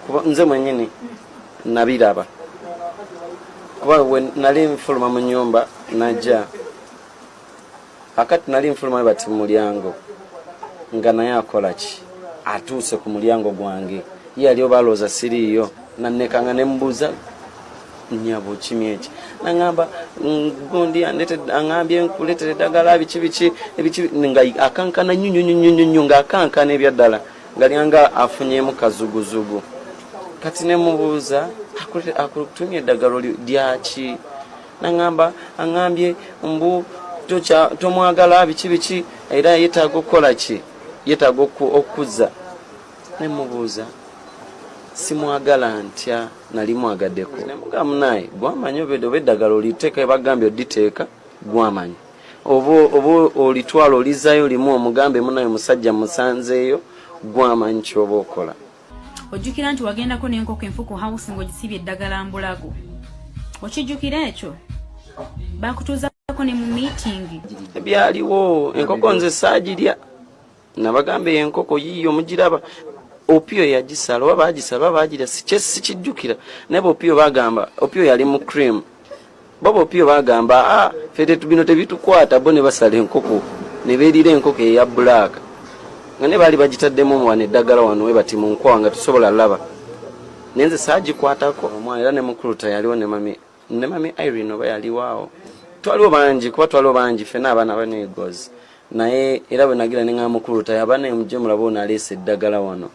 kuba nze mwenyini nabiraba kuba we nali nfuluma mu nyumba najja akati nali nfuluma bati mu mulyango nga naye akola ki atuuse ku mulyango gwange ye yali oba alooza siriiyo nannekanga ne mbuuza nyabo kimi eki nangamba gundi andete angambye nkuletere dagala biki biki ebiki nga akankana nyu nyu nyu nyu nyu nga akankana ebya dala ngali anga afunye mu kazuguzugu kati ne mubuza akulete akutumye dagalo lyaki nangamba angambye mbu tocha tomwagala biki biki era yetago kola ki yetago okuza ne mubuuza simwagala ntya nali mwagadeko nemuga munaye gwamanyi oba eddagala oliteeka ebagambye oditeeka gwamanyi oba olitwala olizayo limu omugambe munaye musajja musanzeeyo gwamanyi kyoba okola ojjukira nti wagendako nenkoko enfu ku house ngaogisiibye eddagala mbulago okijjukira ekyo bakutuuzako ne mu meetingi ebyaliwo enkoko nze saagirya nabagamba eyo enkoko yiiyo mugiraba opiyo yagisala oba bagisala oba bagira sikijjukira naye bopiyo bagamba opiyo yali mu cream baba opiyo bagamba a ah, fete bino tebitukwata bo ne basala enkoko ne beerira enkoko eya bulaaka nga ne baali bagitaddemu wano eddagala wano webati mu nkwawa nga tusobola laba naye nze saagikwatako omwana era ne mukulu tayaliwo ne mami ne mami Irene oba yaliwo awo twaliwo bangi kuba twaliwo bangi fena abaana banegozi naye era bwe nagira ne nga mukulu tayo abaana emuje mulaba ono aleesa eddagala wano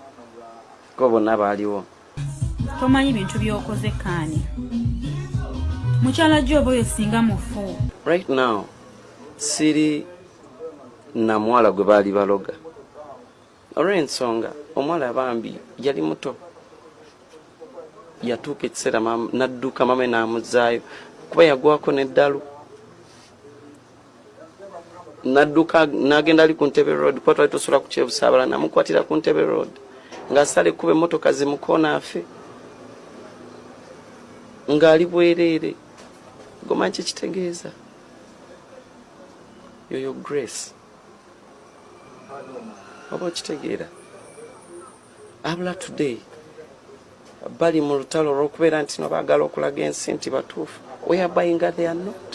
kuba bonna baaliwo tomanyi bintu byokoze kaani mukyala gyo oba oyo singa mufu right now siri namuwala gwe baali baloga olw'ensonga omuwala bambi yali muto yatuuka ekiseera nadduka mame n'amuzaayo kuba yagwako n'eddalu nadduka n'agenda ali ku ntebe road kuba twali tusula ku kyebusaabala namukwatira ku ntebe road ng'asala ekkuba emmotoka zimukoona afe ng'ali bwereere gomanyi kyekitegeeza yoyo grace oba okitegeera abula today bali mu lutalo olwokubeera nti no baagala okulaga ensi nti batuufu weyabayinga they are not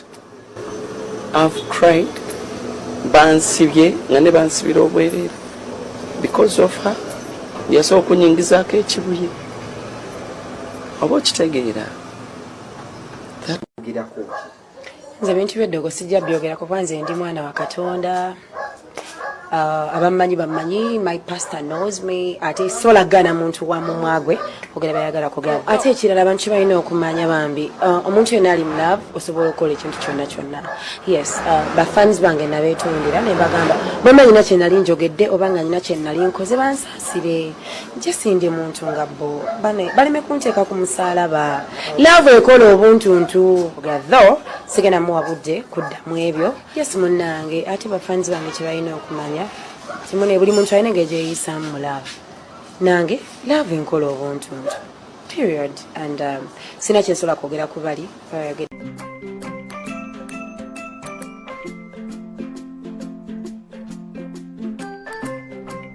av cried bansibye nga ne bansibira obwereere because of her yasobola okunyingizaako ekibuye oba okitegeera nze bintu byeddogo sijja byogera kuba nze ndi mwana wa katonda uh, abammanyi bammanyi my pastor knows me ate sola gana muntu wa mumwagwe ogera bayagala kugamba ate ekirala abantu kibalina okumanya bambi uh, omuntu yena ali mulove osobola okukola ekintu kyonna kyonna yes uh, bafans bange nabetundira nembagamba bamanyina kyenali njogedde oba nga nyina kyenali nkoze bansa sire jesi ndi muntu nga bo bane baleme kunteeka ku musaalaba laavu ekola obuntuntu gatho sigenda muwa budde kudda mu ebyo yesu munnange ate bafanzi bange kye balina okumanya kimune buli muntu alina engeri gyeyisaamu mu laavu nange laavu enkola obuntuntu period and um, sina kyensobola kwogera ku bali bayogera